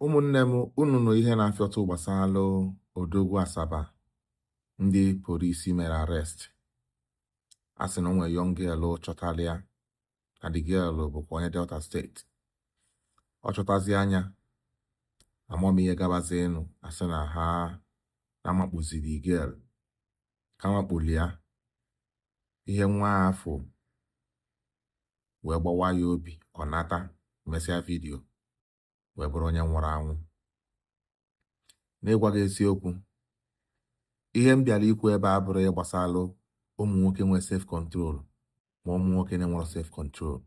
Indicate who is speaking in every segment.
Speaker 1: Ụmụnne m unu nụ ihe na-afịọtụ gbasara odogwu Asaba ndị polisi mere arest a sị na o nwere young girl chọtara ya na the girl bụkwa onye Delta State ọ chọtazia ya ama m ihe gabazi enu a sị na ha na-amakpuzi the girl ka amakpuli ya ihe nwa afụ wee gbawa ya obi ọ nata mesịa video wee bụrụ onye nwụrụ anwụ n'ịgwa gị eziokwu ihe m bịara ikwu ebe a abụrọ gbasalụ ụmụ nwoke nwee self control ma ụmụ nwoke na-enwerọ self control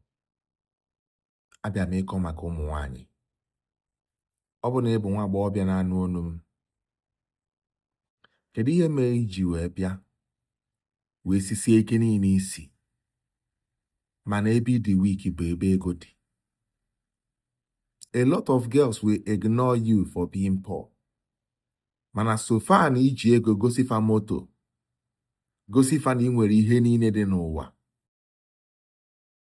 Speaker 1: abịa m ịkọ maka ụmụ nwanyị ọ bụ na ị bụ nwa agbọghọbịa na-anụ olu m kedu ihe mere i ji wee bịa wee sisie ike n'isi mana ebe ị dị weak bụ ebe ego dị a lot of girls will ignore you for being poor mana so far na i ji ego gosi fa moto gosi fa na i nwere ihe niile dị n'ụwa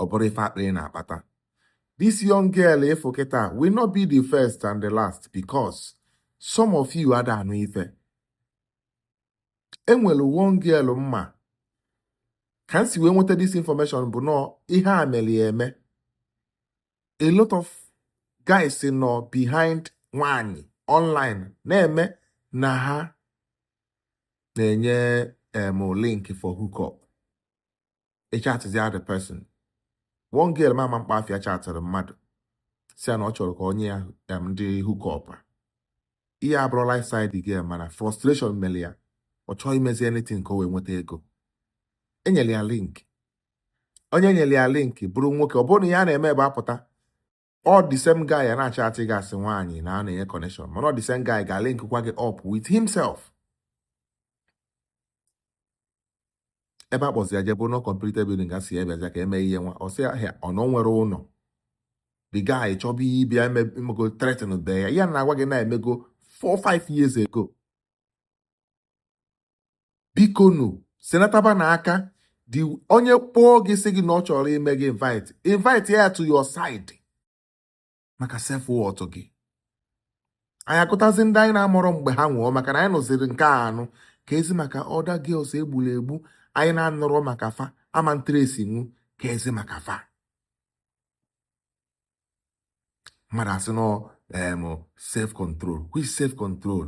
Speaker 1: ọ bụrụ ife akpịrị na-akpata this young girl ị fụ kịta will not be the first and the last because some of you ada anụ ife e nwere one girl m ma ka m si wee nweta this information bụ na ọ ihe a mere ya eme a lot of guys nọ behind nwanyị online na-eme na ha na-enye em link for hookup ị chatịzia the person one girl m ma ama mkpa afịa chatịrị mmadụ sị ya na ọ chọrọ ka o nye ya em, ndị hookup a ihe abụrọ lifestyle girl mana frustration mere ya ọ chọọ imezi anything ka o wee nweta ego e nyere ya link onye nyere ya link bụrụ nwoke ọ bụrụ na ya na-eme ebe apụta ọ the same guy a na-achatị gị as nwaanyị na ọ na-enye connection mana ọ the same guy ga-link kwa gị up with himself ebe a kpọzi ya jee bụ n'uncompleted building a sị ya bịa ka e mee ihe nwa ọ sị ya ọ na o nwerọ ụlọ the guy chọba ịbịa emego threatenbe ya ihe a na-agwa gị na-emego 4 5 years ago bikonu si na taa ba na aka dị onye kpọọ gị sị gị na ọ chọrọ ime gị invite invite ya to your side maka self worth gị anyị agụtazi ndị anyị na-amarọ mgbe ha nwụọ maka na anyị nụziri nke a anụ keezi maka other girls e gburu egbu anyị na-anụrọ maka fa ama ntracenwu keezi maka fa mmadụ asị na ọ self control which self control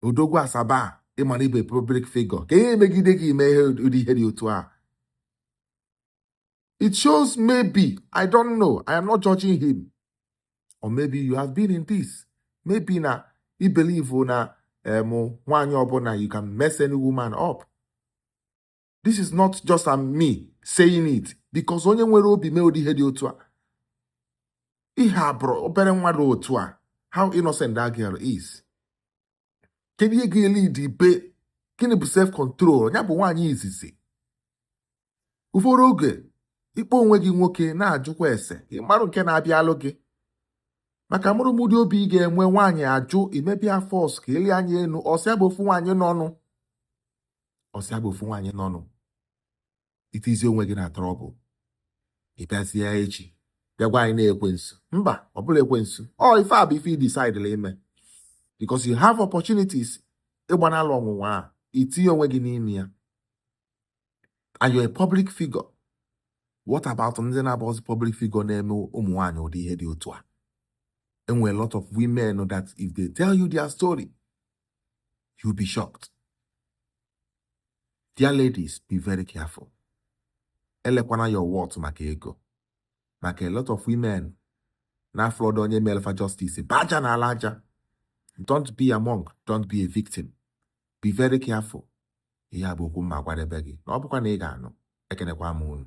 Speaker 1: odogwu asaba a ịma na ịbụ public figure ka ihe emegide gị ime ihe ụdị ihe dị otu a it shows maybe i don't know i am not judging him or maybe you have been in this maybe na i believe na em nwaanyị ọbụla you can mess any woman up this is not just am me saying it because onye nwere obi mee ụdị ihe dị otu a ihe a bụrụ obere nwa dị otu a how innocent that girl is kedu ihe ga-elid ibe gịnị bụ self control ya bụ nwaanyị izizi ụfọdụ oge ikpe onwe gị nwoke na-ajụkwa ese ịmarụ nke na-abịa alụ gị maka amarọ m ụdị obi ị ga-enwe nwaanyị ajụ imebe ya force ka eli anya elu ọsị abụ ofu nwaanyị nọ nụ ọsị abụ ofu nwaanyị nọ nụ itizi onwe gị na trouble ịbịazie echi bịagwa anyị na ekwensu mba ọ bụrọ ekwensu ọ ife a bụ ife i decidela ime because you have opportunities ịgbanala ọnwụnwa a itinye onwe gị n'ime ya and you're a public figure what about ndị na-abụzi public figure na-eme ụmụ nwaanyị ụdị ihe dị otu a enwere lot of women that if they tell you their story you be shocked dear ladies be very careful elekwana your worth maka ego maka a lot of women na-afụlọdụ onye melụ fa justice bụ aja na-ala aja don't be among don't be a victim be very careful ihe a bụ okwu m ma-agwadebe gị na ọ bụkwa na ị ga-anụ ekenekwa m unu